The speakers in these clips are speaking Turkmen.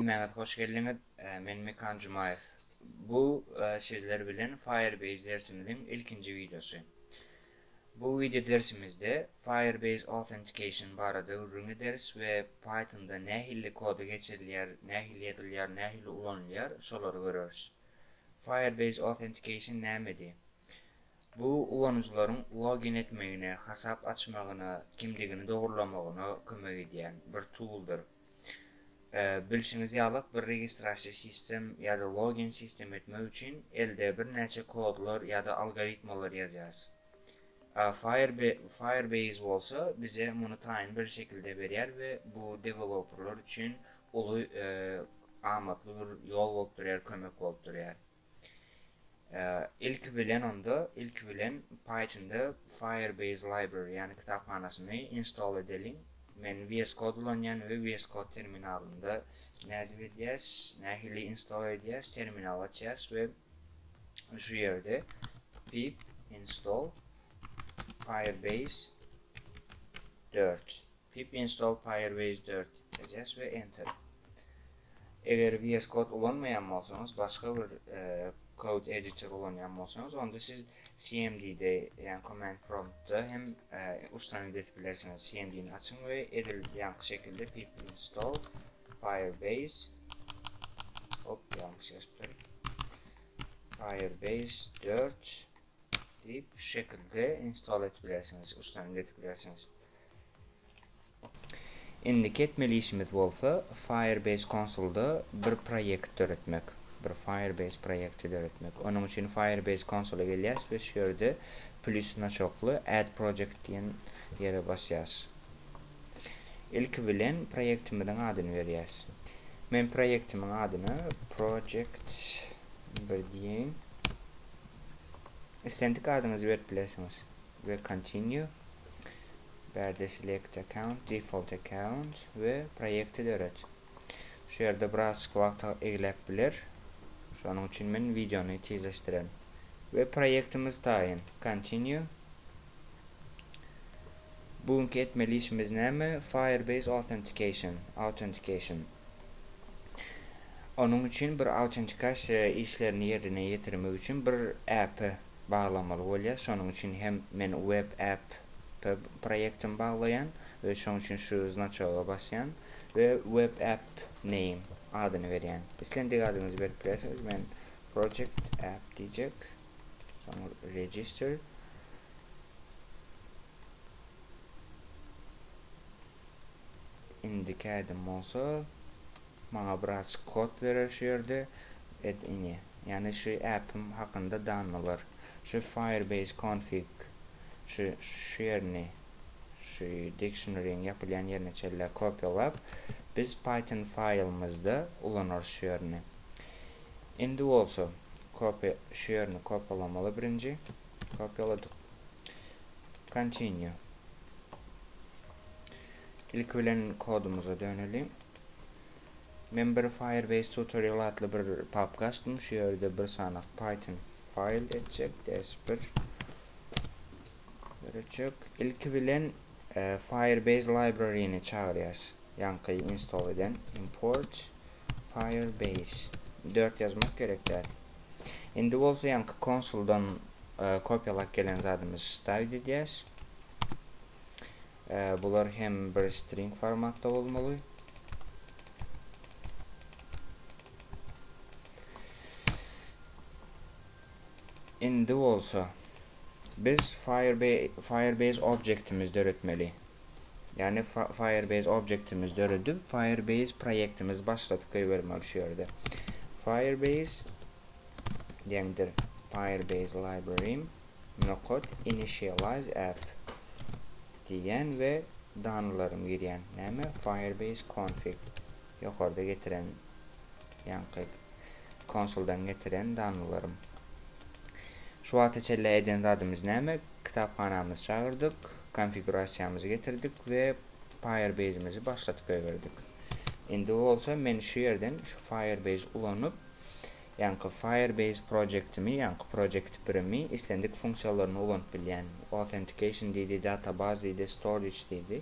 Hemmäňiz hoş geldiňiz! Men Mekan Jumaýew. Bu sizler bilen Firebase dersimiziň ilkinji wideosy. Bu wideo dersimizde Firebase Authentication barada gürrüň ederis we Pythonda nähilli koda geçirilýär, nähili ýazylýar, nähili ulanylýar, şolary göreris. Firebase Authentication nämedi? Bu ulanyjylaryň login etmegine, hasap açmagyna, kimdigini dogrulamagyna kömek edýän bir tooldyr. Bilşiňiz ýalak bir registrasiýa sistem ýa-da login sistem etmek üçin elde birnäçe kodlar ýa-da algoritmalar ýazýarys. Firebase bolsa bize muny taýyn bir şekilde berýär we bu deweloperlar üçin uly amatly bir ýol bolup durýar, kömek bolup durýar. Ilki bilen onda, ilki bilen Pythonda Firebase Library, ýagny kitaphanasyny install edeliň. Men VS Code ulanýan we VS Code terminalynda nädip edýäs, nähili install edýäs, terminal açýas we şu ýerde pip install firebase dört Pip install Firebase dört edýäs we Enter. Eger VS Code ulanmaýan bolsaňyz, başga bir code editor ulanýan bolsaňyz, onda siz cmd-de, ýagny command prompt-da hem ustanowit edip bilersiňiz. Cmd-ni açyň we edil ýaňky şekilde pip install Firebase hop ýalňyş ýazypdyryn. Firebase dört diýip şu şekilde install edip bilersiňiz, uçdan edip bilersiňiz. Indiki etmeli işimiz bolsa Firebase konsolda bir proýekt döretmek, bir Firebase proýekti döretmek. Onuň üçin Firebase konsola gelýäs we şu ýerde plýus znaçokly Add project diýen ýere basýas. Ilki bilen proýektimiziň adyny berýäs. Men proýektimiň adyny project bir diýeýin. islendik adyňyzy berip bilersiňiz we Continue bärde Select Account, Default Account we Proýekti döret. Şu ýerde birazjyk wagt egläp biler. Şonuň üçin men wideony tizleşdirýän. We proýektimiz taýyn. Continue. Bu günki etmeli işimiz näme? Firebase Authentication, Authentication. Onuň üçin bir autentikasyýa işlerini ýerine ýetirmek üçin bir äpe baglamaly bolýar. Şonuň üçin hem men web app proýektimi baglaýan we şoň üçin şu znaçoga basýan we web app name adyny berýän. Islendik adyňyzy berip bilersiňiz. Men project app diýjek. Soň register. indiki ädim bolsa maňa birazjyk kod berer şu ýerde et ini ýagny şu äpim hakynda danmalar şu firebase config şu şu ýerini şu dictionaryň ýapylýan ýerine çenlä kopýalap biz python faýlymyzda ulanarys şu ýerini indi bolsa kopy şu ýerini kopýalamaly birinji kopýaladyk Continue. Ilki bilen kodumyza dönelim. Men bir Firebase tutorial atly bir papka açdym. Şu ýerde bir sany Python file etjek DS1 görüjek. İlki bilen e, Firebase library-ni çagyrýas. Ýaňky install eden import Firebase dört ýazmak gerek däl. Indi bolsa ýaňky konsuldan kopýalap gelen zadymyzy stavit edýäs. Bular hem bir string formatda bolmaly. Indi bolsa biz Firebase objektimizi döretmeli. Ýagny Firebase objektimiz döredip, Firebase proýektimiz başladyk goýbermeli şu ýerde. Firebase deňdir Firebase library nokat initialize app diýýän we danylarymy girýän. Näme? Firebase config. Ýokarda getiren ýaňky Konsuldan getiren danlalarym. Şu wagta çenli eden zadymyz näme? Kitaphanamyzy çagyrdyk, konfigurasiýamyzy getirdik we Firebase-mizi başladyp goýberdik. Indi bolsa men şu ýerden şu Firebase ulanyp, ýaňky Firebase projektimi, ýaňky project birimi islendik funksiýalaryny ulanyp bilýän. Authentication diýdi, database diýdi, storage diýdi.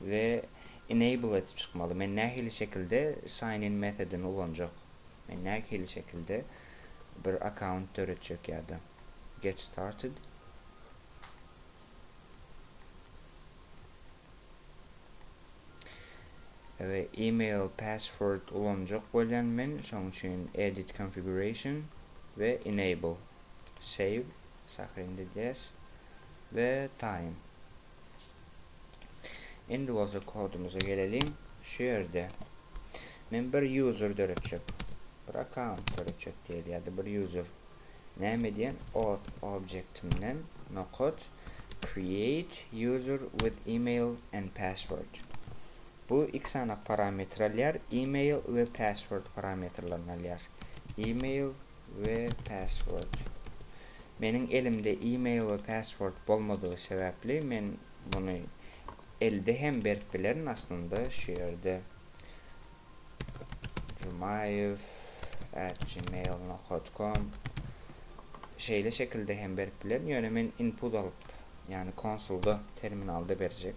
We enable edip çykmaly. Men nähili şekilde sign in metodini ulanjak? Men nähili şekilde bir account döretjek ýa-da get started. We email password ulanjak bolýan men, şoň üçin edit configuration we enable save sahyny edýäs we time. Indi bolsa kodumyza geleliň. Şu ýerde men bir user döretjek. Bir account döretjek diýeli ýa-da bir user. Näme edýän? Auth objektimden nokat create user with email and password. Bu iki sany parametr alýar, email we password parametrlerini alýar. Email we password. Meniň elimde e-mail we password bolmadygy sebäpli men muny elde hem berip bilerin aslynda şu ýerde jumaýew at gmail nokot kom şeýle şekilde hem berip bilerin ýöne men input alyp ýagny konsulda terminalda berjek.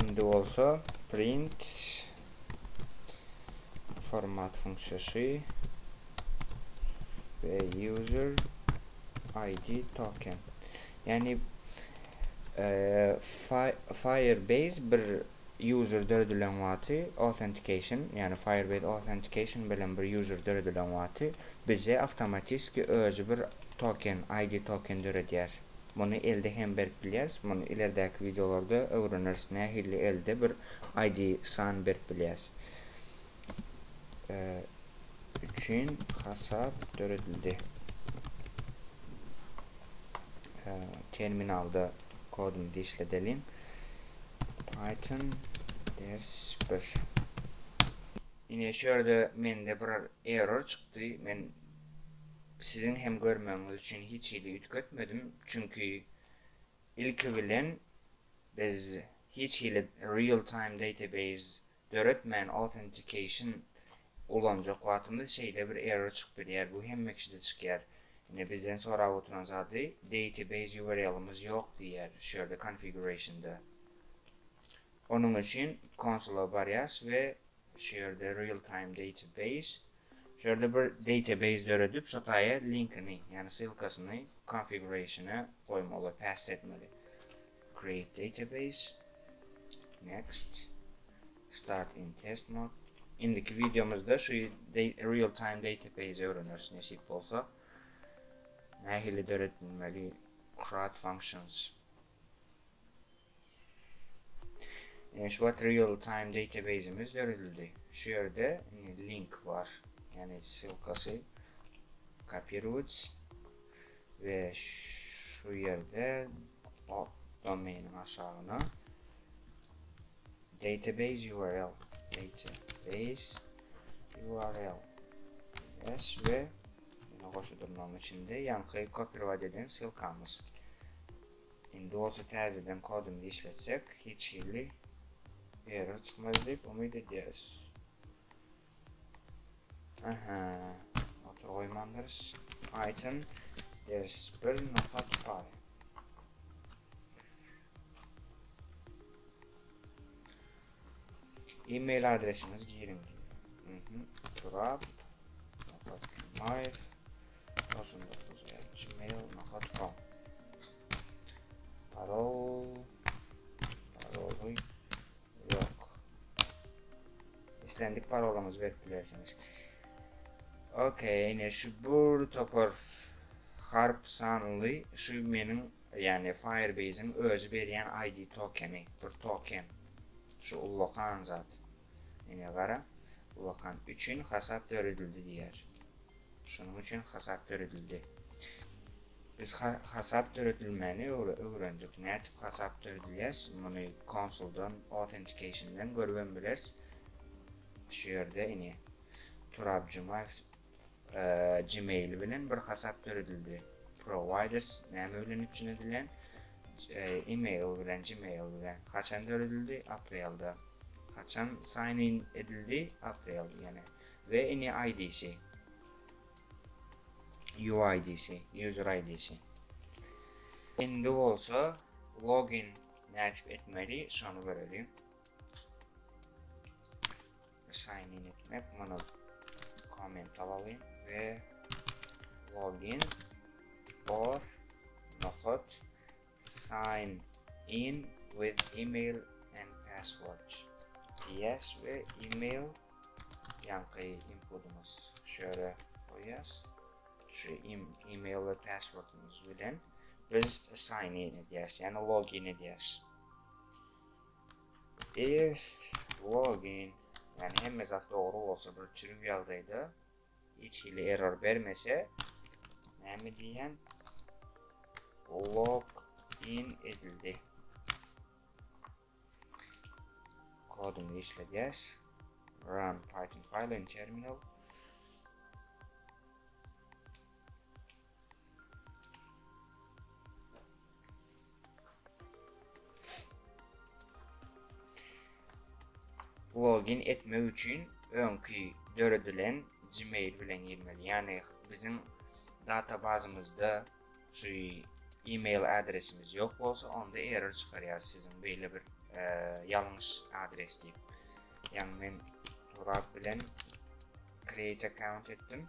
Indi bolsa print format funksiyasy ve user id token. Yani e, Firebase bir user döredilen wagty authentication, ýagny Firebase Authentication bilen bir user döredilen wagty bize awtomatiski özi bir token, ID token döredýär. Muny elde hem berip bilýäris. Muny ileridäki wideolarda öwreneris nähili elde bir ID san berip bilýäris. üçin hasap döredildi. Terminalda kodumyzy işledeliň. Python ders 1. Ine şu ýerde mende bir error çykdy. Men siziň hem görmegiňiz üçin hiç hili üýtgetmedim. Çünki ilki bilen biz hiç hili real time database döretmän authentication ulanjak wagtymyz şeýle bir error çykyp gidýär, bu hemme kişide çykýar. Ine bizden sorap oturan zady database URL-ymyz ýok diýýär şu ýerde configuration-da. Onuň üçin konsula barýas we şu ýerde real time database şu ýerde bir database döredip şo taýa linkini ýagny ssylkasyny configuration-e goýmaly, pass etmeli. Create database, Next, Start in test mode. Indiki wideomyzda şu real time database öwreneris nesip bolsa. Nähili döredilmeli crud functions. Ine şu wagt real time database'imiz döredildi. Şu ýerde link bar. Ýani ssylkasy kopirowats. we şu ýerde hop domainiň aşagyna database url database url yes we ýene goşa durnagyň içinde ýaňky kopirowat eden silkamyz indi bolsa täzeden kodumyzy işletsek hiç hili error çykmaz diýip umyt edýäris Aha. Otur goýmandyrys. Aytyn ders bir nokat bar. E-mail adresiniz girin. Mhm. Turap. Nokat Jumayev. Olsun dokuz. Gmail nokat com. Parol. Parol. Yok. islendik parolyňyzy berip bilersiňiz. Ok, ine şu bir topar harp sanly şu meniň ýagny Firebase-iň özi berýän ID tokeni, bir token. Şu ullakan zat. Ine gara, ullakan üçin hasap döredildi diýýär. Şonuň üçin hasap döredildi. Biz hasap döredilmegini öwrendik. Nädip hasap döredilýär? Muny konsuldan, authentication-den görübem bileris. Şu ýerde ine Turab Jumaýew Gmail bilen bir hasap döredildi. Provider näme bilen üpjün edilen? Email bilen, Gmail bilen. Haçan döredildi? Aprelde. Haçan sign in edildi? Aprel ýene. We ini ID'si. UID'si, user ID'si. Indi bolsa login nädip etmeli, şony göreliň. Sign in etmek, muny komment alalyň we login or nokat Sign in with email and password diýýäs we email ýaňky inpudymyz şu ýere goýýas. Şu email we passwordymyz bilen biz sign in edýäs, ýagny login edýäs. If login, ýagny hemme zat dogry bolsa, bir çürük ýagdaýda Hiç hili error bermese näme diýen log in edildi. Koduny işledýäs. Run Python file in terminal. Login etmek üçin öňki döredilen Gmail bilen girmeli. Ýagny biziň databazymyzda şu e-mail adresimiz ýok bolsa, onda error çykarýar siziň beýle bir e, ýalňyş adres diýip. Ýagny men Turap bilen create account etdim.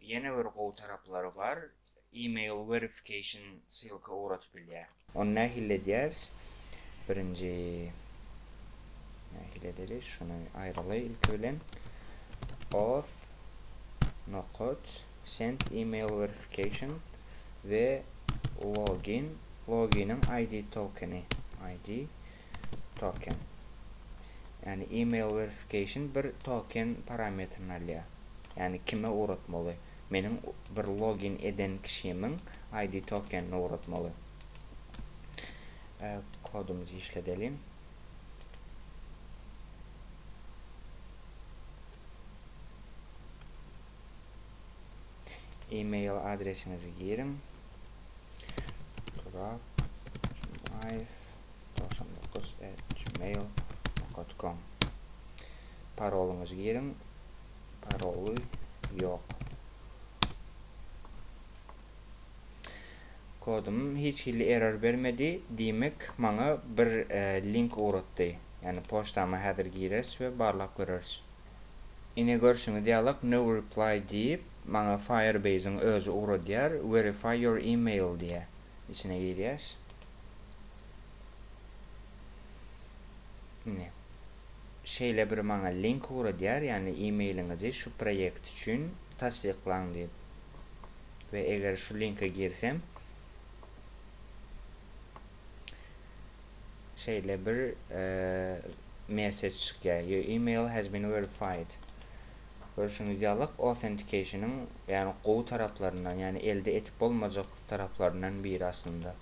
Ýene bir gowy taraplary bar, email verification ssylka ugradyp bilýär. Ony nähili edýäris? Birinji nähili edeli? Şuny aýraly ilki bilen. Auth nokat send email verification we login loginiň ID tokeni ID token. Ýagny email verification bir token parametrini alýar. Ýagny kime ugratmaly? Meniň bir login eden kişimiň ID tokenini ugratmaly. Kodumyzy işledeliň. Email adresiňizi giriň. Turap Jumaýew 99@gmail.com Parolyňyzy giriň. Paroly ýok. Kodum hiç hili error bermedi. Diýmek, maňa bir e, link ugratdy. Ýagny poçtama häzir gireris we barlap göreris. Ine görşüňiz ýalak no reply diýip, maňa Firebase-iň özi ugradýar, verify your email diýýär. içine girýäs. Ine. Şeýle bir maňa link ugradýar, ýagny e-mailiňizi şu proýekt üçin tassyklaň diýip. We eger şu linke girsem, şeýle bir mesej çykýar. Your email has been verified. Görşüňiz ýaly, authentication-yň ýagny gowy taraplaryndan, ýagny elde etip bolmajak taraplaryndan biri aslynda.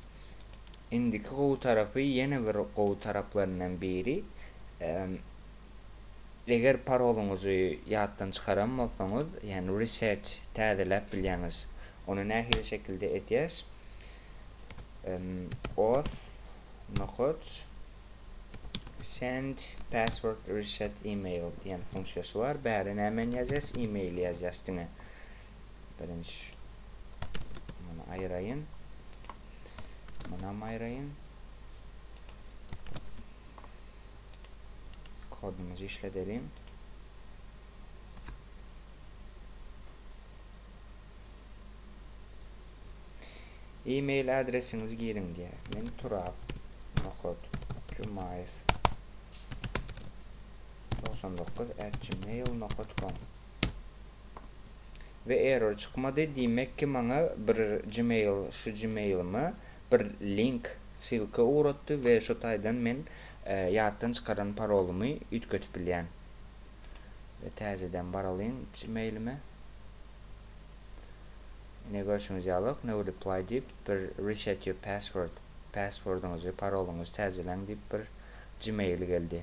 Indiki gowy tarapy ýene bir gowy taraplaryndan biri eger parolyňyzy ýatdan çykaran bolsaňyz, ýagny reset täzeläp bilýäňiz. Ony nähili şekilde edýäs? Auth nokat send password reset email diýen funksiýasy bar. Bäri nämeni ýazýas? Emaili ýazýas diňe. Birinji muny aýraýyn. Munam aýraýyn. Kodumyzy işledelim. E-mail adresiňizi giriň diýär. Men Turap Nokot Jumaýew 99 at gmail.com we error çykmady diýmek ki maňa bir gmail şu gmailyma bir link ssilka ugratdy we şu taýdan men ýatdan çykaran parolymy üýtgetip bilýän we täzeden baralyň gmailime ine görşüňiz ýalyk no reply diýip bir reset your password passwordyňyzy parolyňyzy täzeläň diýip bir gmail geldi.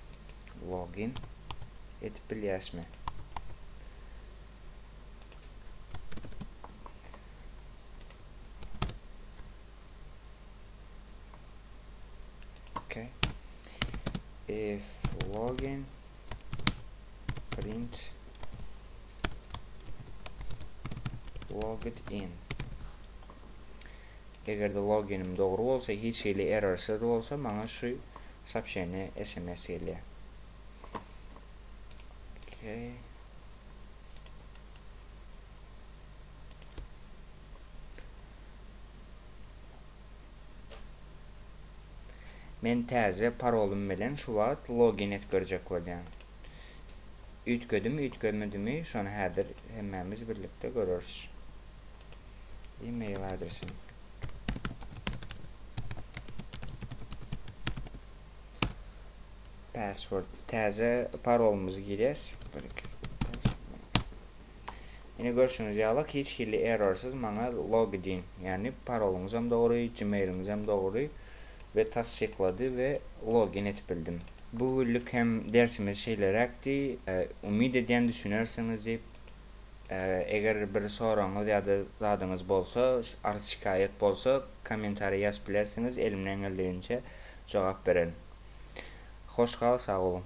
login edip bilýäsmi? Okay. If login print logged in. Eger-de loginim dogry bolsa, hiç hili errorsyz bolsa, maňa şu soobşeniýe sms gelýär. Okey. Men täze parolym bilen şu wagt login et görjek bolýan. Üýtgedim, üýtgemedimi, şony häzir hemmämiz birlikde göreris. e-mail adresim. Password täze parolymyzy girýäs. Ine görşüňiz ýaly hiç hili errorsyz maňa login, ýagny parolyňyz hem dogry, gmailiňiz hem dogry we tassyklady we login etip bildim. Bu günlük hem dersimiz şeýleräkdi. Umyt edýän düşünersiňiz diýip. Eger bir soragyňyz ýa-da zadyňyz bolsa, arz-şikaýat bolsa, kommentariýa ýazyp bilersiňiz, elimden geldiginçe jogap bererin. Hoş gal, sag boluň!